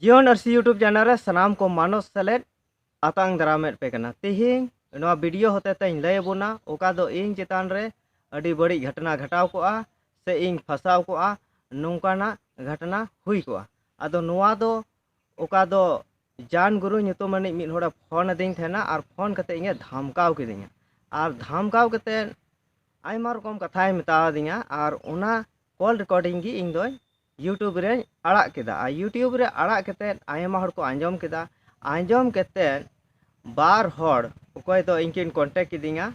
ᱡᱤᱭᱚᱱ ᱟᱨᱥᱤ YouTube channel ᱨᱮ ᱥᱟᱱᱟᱢ ᱠᱚ ᱢᱟᱱᱚᱥ ᱥᱮᱞᱮᱫ ᱟᱛᱟᱝ ᱫᱟᱨᱟᱢᱮᱫ ᱯᱮ ᱠᱟᱱᱟ ᱛᱮᱦᱮᱧ ᱱᱚᱣᱟ ᱵᱷᱤᱰᱤᱭᱳ ᱦᱚᱛᱮ ᱛᱮᱧ ᱞᱟᱹᱭ ᱟᱵᱚᱱᱟ ᱚᱠᱟ ᱫᱚ ᱤᱧ ᱪᱮᱛᱟᱱ ᱨᱮ ᱟᱹᱰᱤ ᱵᱟᱹᱲᱤᱡ ᱜᱷᱚᱴᱚᱱᱟ ᱜᱷᱟᱴᱟᱣ ᱠᱚᱜᱼᱟ ᱥᱮ ᱤᱧ ᱯᱷᱟᱥᱟᱣ ᱠᱚᱜᱼᱟ ᱱᱚᱝᱠᱟᱱᱟᱜ ᱜᱷᱚᱴᱚᱱᱟ ᱦᱩᱭ ᱠᱚᱜᱼᱟ ᱟᱫᱚ ᱱᱚᱣᱟ ᱫᱚ ᱚᱠᱟ ᱫᱚ ᱡᱟᱱ ᱜᱩᱨᱩ ᱧᱩᱛᱩᱢ ᱟᱹᱱᱤᱡ ᱢᱤᱫ ᱦᱚᱲᱮ ᱯᱷᱳᱱ ᱟᱹᱫᱤᱧ ᱛᱟᱦᱮᱱᱟ ᱟᱨ ᱯᱷᱳᱱ ᱠᱟᱛᱮ ᱤᱧᱮ ᱫᱷᱟᱢᱠᱟᱣ ᱠᱤᱫᱤᱧᱟ ᱟᱨ ᱫᱷᱟᱢᱠᱟᱣ ᱠᱟᱛᱮ ᱟᱭᱢᱟ ᱨᱚᱠᱚᱢ ᱠᱟᱛᱷᱟᱭ ᱢᱮᱛᱟᱣᱟᱫᱤᱧᱟ ᱟᱨ ᱚᱱᱟ ᱠᱚᱞ ᱨᱮᱠᱚᱨᱰᱤᱝ ᱜᱮ ᱤᱧ ᱫᱚᱧ ᱤᱭᱩᱴᱩᱵᱽ ᱨᱮᱧ ᱟᱲᱟᱜ ᱠᱮᱫᱟ ᱟᱨ ᱤᱭᱩᱴᱩᱵᱽ ᱨᱮ ᱟᱲᱟᱜ ᱠᱟᱛᱮᱫ ᱟᱭᱢᱟ ᱦᱚᱲ ᱠᱚ ᱟᱸᱡᱚᱢ ᱠᱮᱫᱟ ᱟᱸᱡᱚᱢ ᱠᱟᱛᱮᱫ ᱵᱟᱨ ᱦᱚᱲ ᱚᱠᱚᱭ ᱫᱚ ᱤᱧ ᱠᱤᱱ ᱠᱚᱱᱴᱮᱠ ᱠᱤᱫᱤᱧᱟ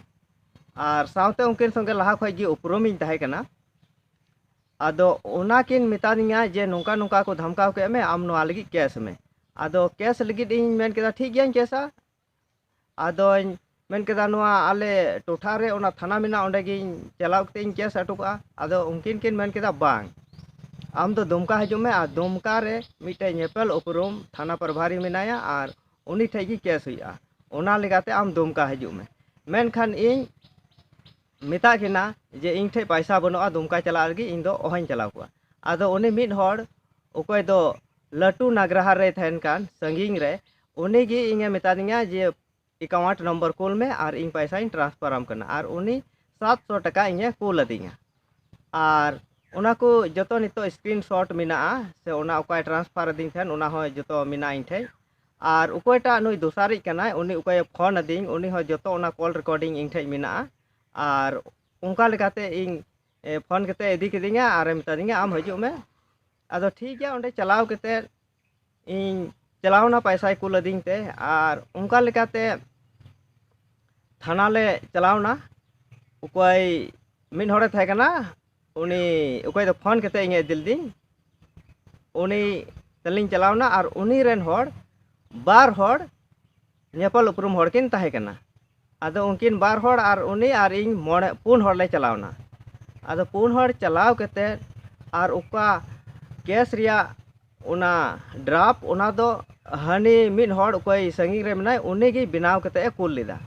ᱟᱨ ᱥᱟᱶᱛᱮ ᱩᱱᱠᱤᱱ ᱥᱚᱸᱜᱮ ᱞᱟᱦᱟ ᱠᱷᱚᱱ ᱜᱮ ᱩᱯᱨᱩᱢᱤᱧ ᱛᱟᱦᱮᱸ ᱠᱟᱱᱟ ᱟᱫᱚ ᱚᱱᱟ ᱠᱤᱱ ᱢᱮᱛᱟᱫᱤᱧᱟ ᱡᱮ ᱱᱚᱝᱠᱟ ᱱᱚᱝᱠᱟ ᱠᱚ ᱫᱷᱟᱢᱠᱟᱣ ᱠᱮᱫ ᱢᱮ ᱟᱢ ᱱᱚᱣᱟ ᱞᱟᱹᱜᱤᱫ ᱠᱮᱥ ᱢᱮ ᱟᱫᱚ ᱠᱮᱥ ᱞᱟᱹᱜᱤᱫ ᱤᱧ ᱢᱮᱱ ᱠᱮᱫᱟ ᱴᱷᱤᱠ ᱜᱮᱭᱟᱧ ᱠᱮᱥᱟ ᱟᱫᱚᱧ ᱢᱮᱱ ᱠᱮᱫᱟ ᱱᱚᱣᱟ ᱟᱞᱮ ᱴᱚᱴᱷᱟ ᱨᱮ ᱚᱱᱟ ᱛᱷᱟᱱᱟ ᱢᱮᱱᱟᱜᱼᱟ ᱚᱸᱰᱮ ᱜᱤᱧ ᱪᱟᱞᱟᱣ ᱠᱟᱛᱮᱫ ᱤᱧ ᱠᱮᱥ ᱦᱚᱴᱚ ᱠᱟᱜᱼᱟ ᱟᱫᱚ ᱩᱱᱠᱤᱱ ᱠᱤᱱ ᱢᱮᱱ ᱠᱮᱫᱟ ᱵᱟᱝ ᱟᱢ ᱫᱚ ᱫᱩᱢᱠᱟ ᱦᱤᱡᱩᱜ ᱢᱮ ᱟᱨ ᱫᱩᱢᱠᱟ ᱨᱮ ᱢᱤᱫᱴᱮᱱ ᱧᱮᱯᱮᱞ ᱩᱯᱨᱩᱢ ᱛᱷᱟᱱᱟ ᱯᱨᱚᱵᱷᱟᱨᱤ ᱢᱮᱱᱟᱭᱟ ᱟᱨ ᱩᱱᱤ ᱴᱷᱮᱱ ᱜᱮ ᱠᱮᱥ ᱦᱩᱭᱩᱜᱼᱟ ᱚᱱᱟ ᱞᱮᱠᱟᱛᱮ ᱟᱢ ᱫᱩᱢᱠᱟ ᱦᱤᱡᱩᱜ ᱢᱮ ᱢᱮᱱᱠᱷᱟᱱ ᱤᱧ ᱢᱮᱛᱟᱫ ᱠᱤᱱᱟ ᱡᱮ ᱤᱧ ᱴᱷᱮᱱ ᱯᱟᱭᱥᱟ ᱵᱟᱹᱱᱩᱜᱼᱟ ᱫᱩᱢᱠᱟ ᱪᱟᱞᱟᱜ ᱞᱟᱹᱜᱤᱫ ᱤᱧ ᱫᱚ ᱚᱦᱚᱧ ᱪᱟᱞᱟᱣ ᱠᱚᱜᱼᱟ ᱟᱫᱚ ᱩᱱᱤ ᱢᱤᱫ ᱦᱚᱲ ᱚᱠᱚᱭ ᱫᱚ ᱞᱟᱹᱴᱩ ᱱᱟᱜᱽᱨᱟᱦᱟᱨ ᱨᱮᱭ ᱛᱟᱦᱮᱱ ᱠᱟᱱ ᱥᱟᱺᱜᱤᱧ ᱨᱮ ᱩᱱᱤ ᱜᱮ ᱤᱧᱮ ᱢᱮᱛᱟᱫᱤᱧᱟ ᱡᱮ ᱮᱠᱟᱣᱩᱱᱴ ᱱᱚᱢᱵᱚᱨ ᱠᱩᱞ ᱢᱮ ᱟᱨ ᱤᱧ ᱯᱟᱭᱥᱟᱧ ᱴᱨᱟᱱᱥᱯᱷᱟᱨ ᱟᱢ ᱠᱟᱱᱟ ᱟᱨ ᱩᱱᱤ ᱥᱟᱛ ᱥᱚ ᱴᱟᱠᱟ ᱤᱧᱮ ᱠᱩᱞ ᱟᱹᱫᱤᱧᱟ ᱟᱨ ᱚᱱᱟ ᱠᱚ ᱡᱚᱛᱚ ᱱᱤᱛᱚᱜ ᱥᱠᱨᱤᱱ ᱥᱚᱴ ᱢᱮᱱᱟᱜᱼᱟ ᱥᱮ ᱚᱱᱟ ᱚᱠᱟᱭ ᱴᱨᱟᱱᱥᱯᱷᱟᱨ ᱟᱹᱫᱤᱧ ᱛᱟᱦᱮᱱ ᱚᱱᱟ ᱦᱚᱸ ᱡᱚᱛᱚ ᱢᱮᱱᱟᱜᱼᱟ ᱤᱧ ᱴᱷᱮᱱ ᱟᱨ ᱚᱠᱚᱭᱴᱟᱜ ᱱᱩᱭ ᱫᱚᱥᱟᱨᱤᱡ ᱠᱟᱱᱟᱭ ᱩᱱᱤ ᱚᱠᱚᱭᱮ ᱯᱷᱳᱱ ᱟᱹᱫᱤᱧ ᱩᱱᱤ ᱦᱚᱸ ᱡᱚᱛᱚ ᱚᱱᱟ ᱠᱚᱞ ᱨᱮᱠᱳᱰᱤᱝ ᱤᱧ ᱴᱷᱮᱱ ᱢᱮᱱᱟᱜᱼᱟ ᱟᱨ ᱚᱱᱠᱟ ᱞᱮᱠᱟᱛᱮ ᱤᱧ ᱯᱷᱳᱱ ᱠᱟᱛᱮ ᱤᱫᱤ ᱠᱤᱫᱤᱧᱟ ᱟᱨᱮ ᱢᱮᱛᱟᱫᱤᱧᱟ ᱟᱢ ᱦᱤᱡᱩᱜ ᱢᱮ ᱟᱫᱚ ᱴᱷᱤᱠ ᱜᱮᱭᱟ ᱚᱸᱰᱮ ᱪᱟᱞᱟᱣ ᱠᱟᱛᱮ ᱤᱧ ᱪᱟᱞᱟᱣᱱᱟ ᱯᱚᱭᱥᱟᱭ ᱠᱩᱞ ᱟᱹᱫᱤᱧ ᱛᱮ ᱟᱨ ᱚᱱᱠᱟ ᱞᱮᱠᱟᱛᱮ ᱛᱷᱟᱱᱟ ᱞᱮ ᱪᱟᱞᱟᱣᱱᱟ ᱚᱠᱚᱭ ᱢᱤᱫ ᱦᱚᱲᱮ ᱛᱟᱦᱮᱸ ᱠᱟᱱᱟ ᱩᱱᱤ ᱚᱠᱚᱭ ᱫᱚ ᱯᱷᱳᱱ ᱠᱟᱛᱮ ᱤᱧᱮ ᱤᱫᱤ ᱞᱤᱫᱤᱧ ᱩᱱᱤ ᱛᱮᱞᱤᱧ ᱪᱟᱞᱟᱣᱱᱟ ᱟᱨ ᱩᱱᱤ ᱨᱮᱱ ᱦᱚᱲ ᱵᱟᱨ ᱦᱚᱲ ᱧᱮᱯᱮᱞ ᱩᱯᱨᱩᱢ ᱦᱚᱲ ᱠᱤᱱ ᱛᱟᱦᱮᱸ ᱠᱟᱱᱟ ᱟᱫᱚ ᱩᱱᱠᱤᱱ ᱵᱟᱨ ᱦᱚᱲ ᱟᱨ ᱩᱱᱤ ᱟᱨ ᱤᱧ ᱢᱚᱬᱮ ᱯᱩᱱ ᱦᱚᱲ ᱞᱮ ᱪᱟᱞᱟᱣᱱᱟ ᱟᱫᱚ ᱯᱩᱱ ᱦᱚᱲ ᱪᱟᱞᱟᱣ ᱠᱟᱛᱮ ᱟᱨ ᱚᱠᱟ ᱠᱮᱥ ᱨᱮᱭᱟᱜ ᱚᱱᱟ ᱰᱨᱟᱯ ᱚᱱᱟ ᱫᱚ ᱦᱟᱹᱱᱤ ᱢᱤᱫ ᱦᱚᱲ ᱚᱠᱚᱭ ᱥᱟᱺᱜᱤᱧ ᱨᱮ ᱢᱮᱱᱟᱭ ᱩᱱᱤ ᱜᱮ ᱵᱮᱱᱟᱣ ᱠᱟᱛᱮ ᱮ ᱠᱩᱞ ᱞᱮᱫᱟ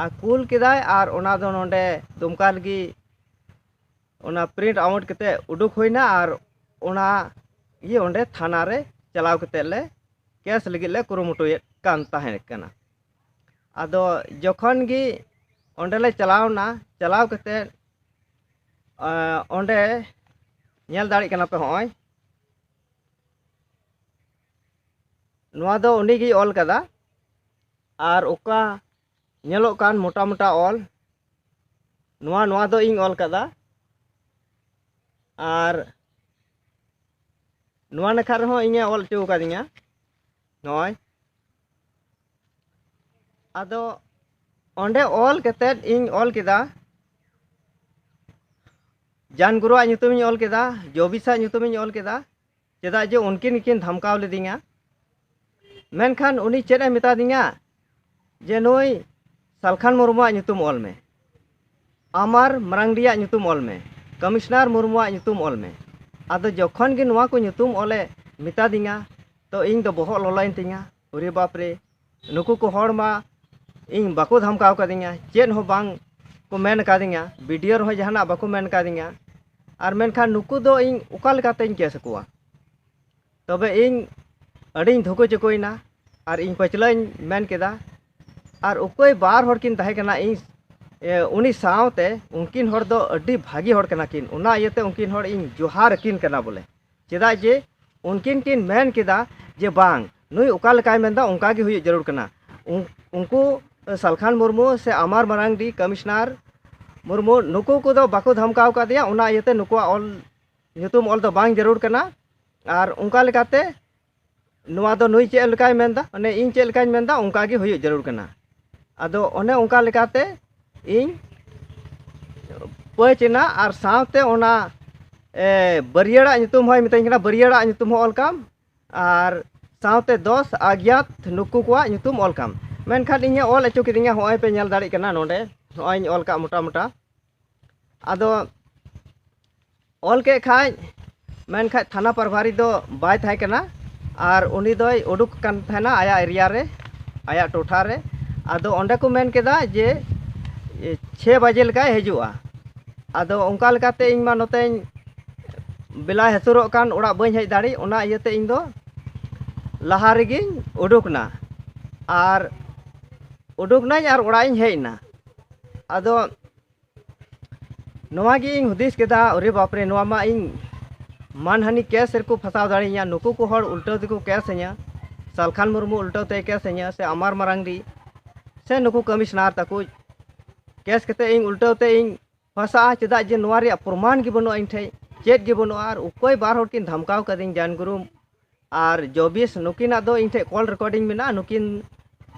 ᱟᱨ ᱠᱩᱞ ᱠᱮᱫᱟᱭ ᱟᱨ ᱚᱱᱟ ᱫᱚ ᱱᱚᱰᱮ ᱫᱩᱢᱠᱟ ᱨᱮᱜᱮ ᱚᱱᱟ ᱯᱨᱤᱱᱴ ᱟᱣᱩᱴ ᱠᱟᱛᱮ ᱩᱰᱩᱠ ᱦᱩᱭᱱᱟ ᱟᱨ ᱚᱱᱟ ᱤᱭᱟᱹ ᱚᱸᱰᱮ ᱛᱷᱟᱱᱟ ᱨᱮ ᱪᱟᱞᱟᱣ ᱠᱟᱛᱮ ᱞᱮ ᱠᱮᱥ ᱞᱟᱹᱜᱤᱫ ᱞᱮ ᱠᱩᱨᱩᱢᱩᱴᱩᱭᱮᱫ ᱠᱟᱱ ᱛᱟᱦᱮᱸ ᱠᱟᱱᱟ ᱟᱫᱚ ᱡᱚᱠᱷᱚᱱ ᱜᱮ ᱚᱸᱰᱮ ᱞᱮ ᱪᱟᱞᱟᱣᱱᱟ ᱪᱟᱞᱟᱣ ᱠᱟᱛᱮ ᱚᱸᱰᱮ ᱧᱮᱞ ᱫᱟᱲᱮᱜ ᱠᱟᱱᱟ ᱯᱮ ᱦᱚᱸᱜᱼᱚᱭ ᱱᱚᱣᱟ ᱫᱚ ᱩᱱᱤ ᱜᱮᱭ ᱚᱞ ᱠᱟᱫᱟ ᱟᱨ ᱚᱠᱟ ᱧᱮᱞᱚᱜ ᱠᱟᱱ ᱢᱚᱴᱟ ᱢᱚᱴᱟ ᱚᱞ ᱱᱚᱣᱟ ᱱᱚᱣᱟ ᱫᱚ ᱤᱧ ᱚᱞ ᱠᱟᱫᱟ ᱟᱨ ᱱᱚᱣᱟ ᱱᱟᱠᱷᱟ ᱨᱮᱦᱚᱸ ᱤᱧᱮ ᱚᱞ ᱦᱚᱪᱚ ᱟᱠᱟᱫᱤᱧᱟ ᱱᱚᱜᱼᱚᱭ ᱟᱫᱚ ᱚᱸᱰᱮ ᱚᱞ ᱠᱟᱛᱮᱫ ᱤᱧ ᱚᱞ ᱠᱮᱫᱟ ᱡᱟᱱ ᱜᱩᱨᱩᱣᱟᱜ ᱧᱩᱛᱩᱢᱤᱧ ᱚᱞ ᱠᱮᱫᱟ ᱡᱚᱵᱤᱥᱟᱜ ᱧᱩᱛᱩᱢᱤᱧ ᱚᱞ ᱠᱮᱫᱟ ᱪᱮᱫᱟᱜ ᱡᱮ ᱩᱱᱠᱤᱱ ᱜᱮᱠᱤᱱ ᱫᱷᱟᱢᱠᱟᱣ ᱞᱤᱫᱤᱧᱟ ᱢᱮᱱᱠᱷᱟᱱ ᱩᱱᱤ ᱪᱮᱫ ᱮ ᱢᱮᱛᱟ ᱫᱤᱧᱟ ᱡᱮ ᱱᱩᱭ ᱥᱟᱞᱠᱷᱟᱱ ᱢᱩᱨᱢᱩᱣᱟᱜ ᱧᱩᱛᱩᱢ ᱚᱞ ᱢᱮ ᱟᱢᱟᱨ ᱢᱟᱨᱟᱝᱰᱤᱭᱟᱜ ᱧᱩᱛᱩᱢ ᱚᱞ ᱢᱮ ᱠᱚᱢᱤᱥᱱᱟᱨ ᱢᱩᱨᱢᱩᱣᱟᱜ ᱧᱩᱛᱩᱢ ᱚᱞ ᱢᱮ ᱟᱫᱚ ᱡᱚᱠᱷᱚᱱ ᱜᱮ ᱱᱚᱣᱟ ᱠᱚ ᱧᱩᱛᱩᱢ ᱚᱞᱮ ᱢᱮᱛᱟ ᱫᱤᱧᱟ ᱛᱚ ᱤᱧ ᱫᱚ ᱵᱚᱦᱚᱜ ᱞᱚᱞᱚᱭᱮᱱ ᱛᱤᱧᱟ ᱚᱨᱮ ᱵᱟᱯᱨᱮ ᱱᱩᱠᱩ ᱠᱚ ᱦᱚᱲ ᱢᱟ ᱤᱧ ᱵᱟᱠᱚ ᱫᱷᱟᱢᱠᱟᱣ ᱠᱟᱫᱤᱧᱟ ᱪᱮᱫ ᱦᱚᱸ ᱵᱟᱝ ᱠᱚ ᱢᱮᱱ ᱠᱟᱫᱤᱧᱟ ᱵᱤᱰᱤᱭᱳ ᱨᱮᱦᱚᱸ ᱡᱟᱦᱟᱱᱟᱜ ᱵᱟᱠᱚ ᱢᱮᱱ ᱠᱟᱫᱤᱧᱟ ᱟᱨ ᱢᱮᱱᱠᱷᱟᱱ ᱱᱩᱠᱩ ᱫᱚ ᱤᱧ ᱚᱠᱟ ᱞᱮᱠᱟᱛᱮᱧ ᱠᱮᱥ ᱟᱠᱚᱣᱟ ᱛᱚᱵᱮ ᱤᱧ ᱟᱹᱰᱤᱧ ᱫᱷᱩᱠᱩ ᱪᱩᱠᱩᱭᱮᱱᱟ ᱟᱨ ᱤᱧ ᱯᱟᱹᱪᱷᱞᱟᱹᱧ ᱢᱮᱱ ᱠᱮᱫᱟ ᱟᱨ ᱚᱠᱚᱭ ᱵᱟᱨ ᱦᱚᱲ ᱠᱤᱱ ᱛᱟᱦᱮᱸ ᱠᱟᱱᱟ ᱤᱧ ᱩᱱᱤ ᱥᱟᱶᱛᱮ ᱩᱱᱠᱤᱱ ᱦᱚᱲ ᱫᱚ ᱟᱹᱰᱤ ᱵᱷᱟᱹᱜᱤ ᱦᱚᱲ ᱠᱟᱱᱟ ᱠᱤᱱ ᱚᱱᱟ ᱤᱭᱟᱹᱛᱮ ᱩᱱᱠᱤᱱ ᱦᱚᱲ ᱤᱧ ᱡᱚᱦᱟᱨ ᱟᱹᱠᱤᱱ ᱠᱟᱱᱟ ᱵᱚᱞᱮ ᱪᱮᱫᱟᱜ ᱡᱮ ᱩᱱᱠᱤᱱ ᱠᱤᱱ ᱢᱮᱱ ᱠᱮᱫᱟ ᱡᱮ ᱵᱟᱝ ᱱᱩᱭ ᱚᱠᱟ ᱞᱮᱠᱟᱭ ᱢᱮᱱᱫᱟ ᱚᱱᱠᱟ ᱜᱮ ᱦᱩᱭᱩᱜ ᱡᱟᱹᱨᱩᱲ ᱠᱟᱱᱟ ᱩᱱᱠᱩ ᱥᱟᱞᱠᱷᱟᱱ ᱢᱩᱨᱢᱩ ᱥᱮ ᱟᱢᱟᱨ ᱢᱟᱨᱟᱝᱰᱤ ᱠᱚᱢᱤᱥᱚᱱᱟᱨ ᱢᱩᱨᱢᱩ ᱱᱩᱠᱩ ᱠᱚᱫᱚ ᱵᱟᱠᱚ ᱫᱷᱟᱢᱠᱟᱣ ᱠᱟᱫᱮᱭᱟ ᱚᱱᱟ ᱤᱭᱟᱹᱛᱮ ᱱᱩᱠᱩᱣᱟᱜ ᱚᱞ ᱧᱩᱛᱩᱢ ᱚᱞ ᱫᱚ ᱵᱟᱝ ᱡᱟᱹᱨᱩᱲ ᱠᱟᱱᱟ ᱟᱨ ᱚᱱᱠᱟ ᱞᱮᱠᱟᱛᱮ ᱱᱚᱣᱟ ᱫᱚ ᱱᱩᱭ ᱪᱮᱫ ᱞᱮᱠᱟᱭ ᱢᱮᱱᱫᱟ ᱢᱟᱱᱮ ᱤᱧ ᱪᱮᱫ ᱞᱮᱠᱟᱧ ᱢᱮᱱᱫᱟ ᱚᱱᱠᱟ ᱜᱮ ᱦᱩᱭᱩᱜ ᱡᱟᱹᱨᱩᱲ ᱠᱟᱱᱟ ᱟᱫᱚ ᱚᱱᱮ ᱚᱱᱠᱟ ᱞᱮᱠᱟᱛᱮ ᱤᱧ ᱯᱟᱹᱪ ᱮᱱᱟ ᱟᱨ ᱥᱟᱶᱛᱮ ᱚᱱᱟ ᱵᱟᱹᱨᱭᱟᱹᱲᱟᱜ ᱧᱩᱛᱩᱢ ᱦᱚᱸᱭ ᱢᱤᱛᱟᱹᱧ ᱠᱟᱱᱟ ᱵᱟᱹᱨᱭᱟᱹᱲᱟᱜ ᱧᱩᱛᱩᱢ ᱦᱚᱸ ᱚᱞ ᱠᱟᱢ ᱟᱨ ᱥᱟᱶᱛᱮ ᱫᱚᱥ ᱟᱜᱽᱭᱟᱛ ᱱᱩᱠᱩ ᱠᱚᱣᱟᱜ ᱧᱩᱛᱩᱢ ᱚᱞ ᱠᱟᱢ ᱢᱮᱱᱠᱷᱟᱱ ᱤᱧᱮ ᱚᱞ ᱦᱚᱪᱚ ᱠᱤᱫᱤᱧᱟ ᱦᱚᱸᱜᱼᱚᱭ ᱯᱮ ᱧᱮᱞ ᱫᱟᱲᱮᱭᱟᱜ ᱠᱟᱱᱟ ᱱᱚᱰᱮ ᱱᱚᱜᱼᱚᱭᱤᱧ ᱚᱞ ᱠᱟᱜ ᱢᱚᱴᱟ ᱢᱚᱴᱟ ᱟᱫᱚ ᱚᱞ ᱠᱮᱫ ᱠᱷᱟᱡ ᱢᱮᱱᱠᱷᱟᱡ ᱛᱷᱟᱱᱟ ᱯᱨᱚᱵᱷᱟᱨᱤ ᱫᱚ ᱵᱟᱭ ᱛᱟᱦᱮᱸ ᱠᱟᱱᱟ ᱟᱨ ᱩᱱᱤ ᱫᱚᱭ ᱩᱰᱩᱠ ᱠᱟᱱ ᱛᱟᱦᱮᱱᱟ ᱟᱭᱟᱜ ᱮᱨᱤᱭᱟ ᱨᱮ ᱟᱭᱟᱜ ᱴᱚᱴᱷᱟ ᱨᱮ ᱟᱫᱚ ᱚᱸᱰᱮ ᱠᱚ ᱢᱮᱱ ᱠᱮᱫᱟ ᱡᱮ ᱪᱷᱮᱭ ᱵᱟᱡᱮ ᱞᱮᱠᱟᱭ ᱦᱤᱡᱩᱜᱼᱟ ᱟᱫᱚ ᱚᱱᱠᱟ ᱞᱮᱠᱟᱛᱮ ᱤᱧ ᱢᱟ ᱱᱚᱛᱮᱧ ᱵᱮᱞᱟᱭ ᱦᱟᱹᱥᱩᱨᱚᱜ ᱠᱟᱱ ᱚᱲᱟᱜ ᱵᱟᱹᱧ ᱦᱮᱡ ᱫᱟᱲᱮᱜ ᱚᱱᱟ ᱤᱭᱟᱹᱛᱮ ᱤᱧ ᱫᱚ ᱞᱟᱦᱟ ᱨᱮᱜᱮᱧ ᱩᱰᱩᱠ ᱮᱱᱟ ᱟᱨ ᱩᱰᱩᱠ ᱮᱱᱟᱹᱧ ᱟᱨ ᱚᱲᱟᱜ ᱤᱧ ᱦᱮᱡ ᱮᱱᱟ ᱟᱫᱚ ᱱᱚᱣᱟ ᱜᱮ ᱤᱧ ᱦᱩᱫᱤᱥ ᱠᱮᱫᱟ ᱚᱨᱮ ᱵᱟᱯᱨᱮ ᱱᱚᱣᱟ ᱢᱟ ᱤᱧ ᱢᱟᱱᱦᱟᱹᱱᱤ ᱠᱮᱥ ᱨᱮᱠᱚ ᱯᱷᱟᱥᱟᱣ ᱫᱟᱲᱮᱭᱤᱧᱟ ᱱᱩᱠᱩ ᱠᱚ ᱦᱚᱲ ᱩᱞᱴᱟᱹᱣ ᱛᱮᱠᱚ ᱠᱮᱥ ᱤᱧᱟ ᱥᱟᱞᱠᱷᱟᱱ ᱢᱩᱨᱢᱩ ᱩᱞᱴᱟᱹᱣ ᱛᱮᱭ ᱠᱮᱥ ᱤᱧᱟ ᱥᱮ ᱟᱢᱟᱨ ᱢᱟᱨᱟᱝᱰᱤ ᱥᱮ ᱱᱩᱠᱩ ᱠᱚᱢᱤᱥᱚᱱᱟᱨ ᱛᱟᱠᱚ ᱠᱮᱥ ᱠᱟᱛᱮᱫ ᱤᱧ ᱩᱞᱴᱟᱹᱣ ᱛᱮ ᱤᱧ ᱯᱷᱟᱥᱟᱜᱼᱟ ᱪᱮᱫᱟᱜ ᱡᱮ ᱱᱚᱣᱟ ᱨᱮᱭᱟᱜ ᱯᱨᱚᱢᱟᱱ ᱜᱮ ᱵᱟᱹᱱᱩᱜᱼᱟ ᱤᱧ ᱴᱷᱮᱡ ᱪᱮᱫ ᱜᱮ ᱵᱟᱹᱱᱩᱜᱼᱟ ᱟᱨ ᱚᱠᱚᱭ ᱵᱟᱨ ᱦᱚᱲ ᱠᱤᱱ ᱫᱷᱟᱢᱠᱟᱣ ᱠᱟᱹᱫᱤᱧ ᱡᱟᱱ ᱜᱩᱨᱩ ᱟᱨ ᱡᱚᱵᱤᱥ ᱱᱩᱠᱤᱱᱟᱜ ᱫᱚ ᱤᱧ ᱴᱷᱮᱡ ᱠᱚᱞ ᱨᱮᱠᱚᱨᱰᱤᱝ ᱢᱮᱱᱟᱜᱼᱟ ᱱᱩᱠᱤᱱ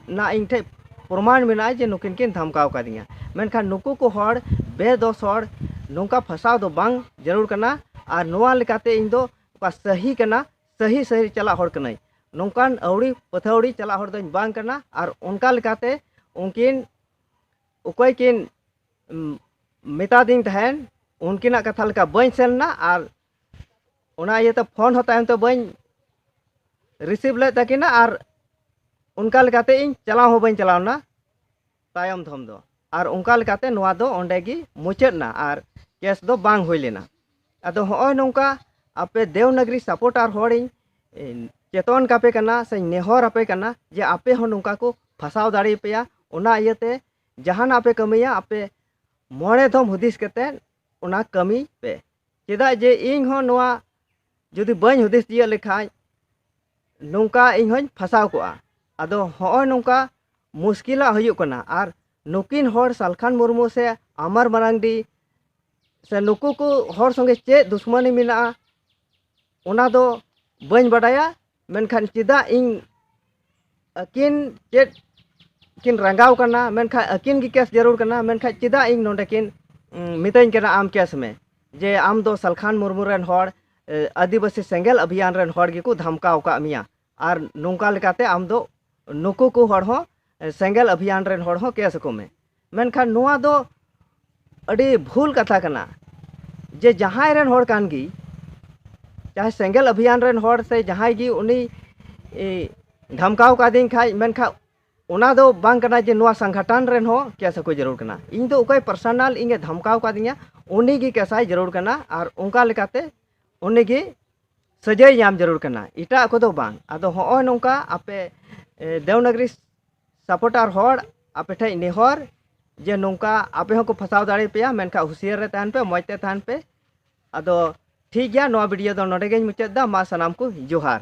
ᱱᱟ ᱤᱧ ᱴᱷᱮᱡ ᱯᱨᱚᱢᱟᱱ ᱢᱮᱱᱟᱜᱼᱟ ᱡᱮ ᱱᱩᱠᱤᱱ ᱠᱤᱱ ᱫᱷᱟᱢᱠᱟᱣ ᱠᱟᱹᱫᱤᱧᱟ ᱢᱮᱱᱠᱷᱟᱱ ᱱᱩᱠᱩ ᱠᱚ ᱦᱚᱲ ᱵᱮᱫᱚᱥ ᱦᱚᱲ ᱱᱚᱝᱠᱟ ᱯᱷᱟᱥᱟᱣ ᱫᱚ ᱵᱟᱝ ᱡᱟᱹᱨᱩᱲ ᱠᱟᱱᱟ ᱟᱨ ᱱᱚᱣᱟ ᱞᱮᱠᱟᱛᱮ ᱤᱧ ᱫᱚ ᱚᱠᱟ ᱥᱟᱹᱦᱤ ᱠᱟᱱᱟ ᱥᱟᱹᱦᱤ ᱥᱟᱹᱦᱤ ᱪᱟᱞᱟᱜ ᱦᱚᱲ ᱠᱟᱹᱱᱟᱹᱧ ᱱᱚᱝᱠᱟᱱ ᱟᱹᱣᱲᱤ ᱯᱟᱹᱛᱷᱟᱹᱣᱲᱤ ᱪᱟᱞᱟᱜ ᱦᱚᱲ ᱫᱚᱧ ᱵᱟᱝ ᱠᱟᱱᱟ ᱟᱨ ᱚᱱᱠᱟ ᱞᱮᱠᱟᱛᱮ ᱩᱱᱠᱤᱱ ᱚᱠᱚᱭ ᱠᱤᱱ ᱢᱮᱛᱟ ᱫᱤᱧ ᱛᱟᱦᱮᱱ ᱩᱱᱠᱤᱱᱟᱜ ᱠᱟᱛᱷᱟ ᱞᱮᱠᱟ ᱵᱟᱹᱧ ᱥᱮᱱ ᱞᱮᱱᱟ ᱟᱨ ᱚᱱᱟ ᱤᱭᱟᱹ ᱛᱮ ᱯᱷᱳᱱ ᱦᱚᱸ ᱛᱟᱭᱚᱢ ᱛᱮ ᱵᱟᱹᱧ ᱨᱤᱥᱤᱵᱷ ᱞᱮᱫ ᱛᱟᱹᱠᱤᱱᱟ ᱟᱨ ᱚᱱᱠᱟ ᱞᱮᱠᱟᱛᱮ ᱤᱧ ᱪᱟᱞᱟᱣ ᱦᱚᱸ ᱵᱟᱹᱧ ᱪᱟᱞᱟᱣ ᱞᱮᱱᱟ ᱛᱟᱭᱚᱢ ᱫᱷᱚᱢ ᱫᱚ ᱟᱨ ᱚᱱᱠᱟ ᱞᱮᱠᱟᱛᱮ ᱱᱚᱣᱟ ᱫᱚ ᱚᱸᱰᱮ ᱜᱮ ᱢᱩᱪᱟᱹᱫ ᱮᱱᱟ ᱟᱨ ᱠᱮᱥ ᱫᱚ ᱵᱟᱝ ᱦᱩᱭ ᱞᱮᱱᱟ ᱟᱫᱚ ᱦᱚᱸᱜᱼᱚᱭ ᱱᱚᱝᱠᱟ ᱟᱯᱮ ᱫᱮᱣᱱᱟᱜᱽᱨᱤ ᱥᱟᱯᱳᱨᱴᱟᱨ ᱦᱚᱲᱤᱧ ᱪᱮᱛᱚᱱ ᱠᱟᱯᱮ ᱠᱟᱱᱟ ᱥᱮᱧ ᱱᱮᱦᱚᱨ ᱟᱯᱮ ᱠᱟᱱᱟ ᱡᱮ ᱟᱯᱮ ᱦᱚᱸ ᱱᱚᱝᱠᱟ ᱠᱚ ᱯᱷᱟᱥᱟᱣ ᱫᱟᱲᱮ ᱯᱮᱭᱟ ᱚᱱᱟ ᱤᱭᱟᱹᱛᱮ ᱡᱟᱦᱟᱱᱟᱜ ᱯᱮ ᱠᱟᱹᱢᱤᱭᱟ ᱟᱯᱮ ᱢᱚᱬᱮ ᱫᱷᱚᱢ ᱦᱩᱫᱤᱥ ᱠᱟᱛᱮ ᱚᱱᱟ ᱠᱟᱹᱢᱤ ᱯᱮ ᱪᱮᱫᱟᱜ ᱡᱮ ᱤᱧ ᱦᱚᱸ ᱱᱚᱣᱟ ᱡᱩᱫᱤ ᱵᱟᱹᱧ ᱦᱩᱫᱤᱥ ᱛᱤᱭᱟᱹᱜ ᱞᱮᱠᱷᱟᱱ ᱱᱚᱝᱠᱟ ᱤᱧ ᱦᱚᱸᱧ ᱯᱷᱟᱥᱟᱣ ᱠᱚᱜᱼᱟ ᱟᱫᱚ ᱦᱚᱸᱜᱼᱚᱭ ᱱᱚᱝᱠᱟ ᱢᱩᱥᱠᱤᱞᱟᱜ ᱦᱩᱭᱩᱜ ᱠᱟᱱᱟ ᱟᱨ ᱱᱩᱠᱤᱱ ᱦᱚᱲ ᱥᱟᱞᱠᱷᱟᱱ ᱢᱩᱨᱢᱩ ᱥᱮ ᱟᱢᱟᱨ ᱢᱟᱨᱟᱝᱰᱤ ᱥᱮ ᱱᱩᱠᱩ ᱠᱚ ᱦᱚᱲ ᱥᱚᱸᱜᱮ ᱪᱮᱫ ᱫᱩᱥᱢᱟᱹᱱᱤ ᱢᱮᱱᱟᱜᱼᱟ ᱚᱱᱟ ᱫᱚ ᱵᱟᱹᱧ ᱵᱟᱰᱟᱭᱟ ᱢᱮᱱᱠᱷᱟᱱ ᱪᱮᱫᱟᱜ ᱤᱧ ᱟᱹᱠᱤᱱ ᱪᱮᱫ ᱠᱤᱱ ᱨᱟᱸᱜᱟᱣ ᱠᱟᱱᱟ ᱢᱮᱱᱠᱷᱟᱱ ᱟᱹᱠᱤᱱ ᱜᱮ ᱠᱮᱥ ᱡᱟᱹᱨᱩᱲ ᱠᱟᱱᱟ ᱢᱮᱱᱠᱷᱟᱱ ᱪᱮᱫᱟᱜ ᱤᱧ ᱱᱚᱰᱮ ᱠᱤᱱ ᱢᱤᱛᱟᱹᱧ ᱠᱟᱱᱟ ᱟᱢ ᱠᱮᱥ ᱢᱮ ᱡᱮ ᱟᱢ ᱫᱚ ᱥᱟᱞᱠᱷᱟᱱ ᱢᱩᱨᱢᱩ ᱨᱮᱱ ᱦᱚᱲ ᱟᱹᱫᱤᱵᱟᱹᱥᱤ ᱥᱮᱸᱜᱮᱞ ᱟᱵᱷᱤᱭᱟᱱ ᱨᱮᱱ ᱦᱚᱲ ᱜᱮᱠᱚ ᱫᱷᱟᱢᱠᱟᱣ ᱟᱠᱟᱫ ᱢᱮᱭᱟ ᱟᱨ ᱱᱚᱝᱠᱟ ᱞᱮᱠᱟᱛᱮ ᱟᱢ ᱫᱚ ᱱᱩᱠᱩ ᱠᱚ ᱦᱚᱲ ᱦᱚᱸ ᱥᱮᱸᱜᱮᱞ ᱟᱵᱷᱤᱭᱟᱱ ᱨᱮᱱ ᱦᱚᱲ ᱦᱚᱸ ᱠᱮᱥ ᱟᱠᱚ ᱢᱮ ᱢᱮᱱᱠᱷᱟᱱ ᱱᱚᱣᱟ ᱫᱚ ᱟᱹᱰᱤ ᱵᱷᱩᱞ ᱠᱟᱛᱷᱟ ᱠᱟᱱᱟ ᱡᱮ ᱡᱟᱦᱟᱸᱭ ᱨᱮᱱ ᱦᱚᱲ ᱠᱟᱱ ᱜᱮ ᱡᱟᱦᱟᱸᱭ ᱥᱮᱸᱜᱮᱞ ᱟᱵᱷᱤᱭᱟᱱ ᱨᱮᱱ ᱦᱚᱲ ᱥᱮ ᱡᱟᱦᱟᱸᱭ ᱜᱮ ᱩᱱᱤ ᱫᱷᱟᱢᱠᱟᱣ ᱠᱟᱫᱤᱧ ᱠᱷᱟᱡ ᱢᱮᱱᱠᱷᱟᱡ ᱚᱱᱟ ᱫᱚ ᱵᱟᱝ ᱠᱟᱱᱟ ᱡᱮ ᱱᱚᱣᱟ ᱥᱟᱝᱜᱷᱟᱴᱟᱱ ᱨᱮᱱ ᱦᱚᱸ ᱠᱮᱥ ᱟᱠᱚ ᱡᱟᱹᱨᱩᱲ ᱠᱟᱱᱟ ᱤᱧ ᱫᱚ ᱚᱠᱚᱭ ᱯᱟᱨᱥᱚᱱᱟᱞ ᱤᱧᱮ ᱫᱷᱟᱢᱠᱟᱣ ᱠᱟᱫᱤᱧᱟ ᱩᱱᱤ ᱜᱮ ᱠᱮᱥᱟᱭ ᱡᱟᱹᱨᱩᱲ ᱠᱟᱱᱟ ᱟᱨ ᱚᱱᱠᱟ ᱞᱮᱠᱟᱛᱮ ᱩᱱᱤ ᱜᱮ ᱥᱟᱹᱡᱟᱹᱭ ᱧᱟᱢ ᱡᱟᱹᱨᱩᱲ ᱠᱟᱱᱟ ᱮᱴᱟᱜ ᱠᱚᱫᱚ ᱵᱟᱝ ᱟᱫᱚ ᱦᱚᱸᱜᱼᱚᱭ ᱱᱚᱝᱠᱟ ᱟᱯᱮ ᱫᱮᱣᱱᱟᱜᱽᱨᱤ ᱥᱟᱯᱚᱴᱟᱨ ᱦᱚᱲ ᱟᱯᱮ ᱴᱷᱮᱱ ᱱᱮᱦᱚᱨ ᱡᱮ ᱱᱚᱝᱠᱟ ᱟᱯᱮ ᱦᱚᱸᱠᱚ ᱯᱷᱟᱥᱟᱣ ᱫᱟᱲᱮ ᱯᱮᱭᱟ ᱢᱮᱱᱠᱷᱟᱱ ᱦᱩᱥᱤᱭᱟᱨ ᱨᱮ ᱛᱟᱦᱮᱱ ᱯᱮ ᱢᱚᱡᱽ ᱛᱮ ᱛᱟᱦᱮᱱ ᱯᱮ ᱟᱫᱚ ᱴᱷᱤᱠ ᱜᱮᱭᱟ ᱱᱚᱣᱟ ᱵᱷᱤᱰᱤᱭᱳ ᱫᱚ ᱱᱚᱰᱮ ᱜᱮᱧ ᱢᱩᱪᱟᱹᱫ ᱮᱫᱟ ᱢᱟ ᱥᱟᱱᱟᱢ ᱠᱚ ᱡᱚᱦᱟᱨ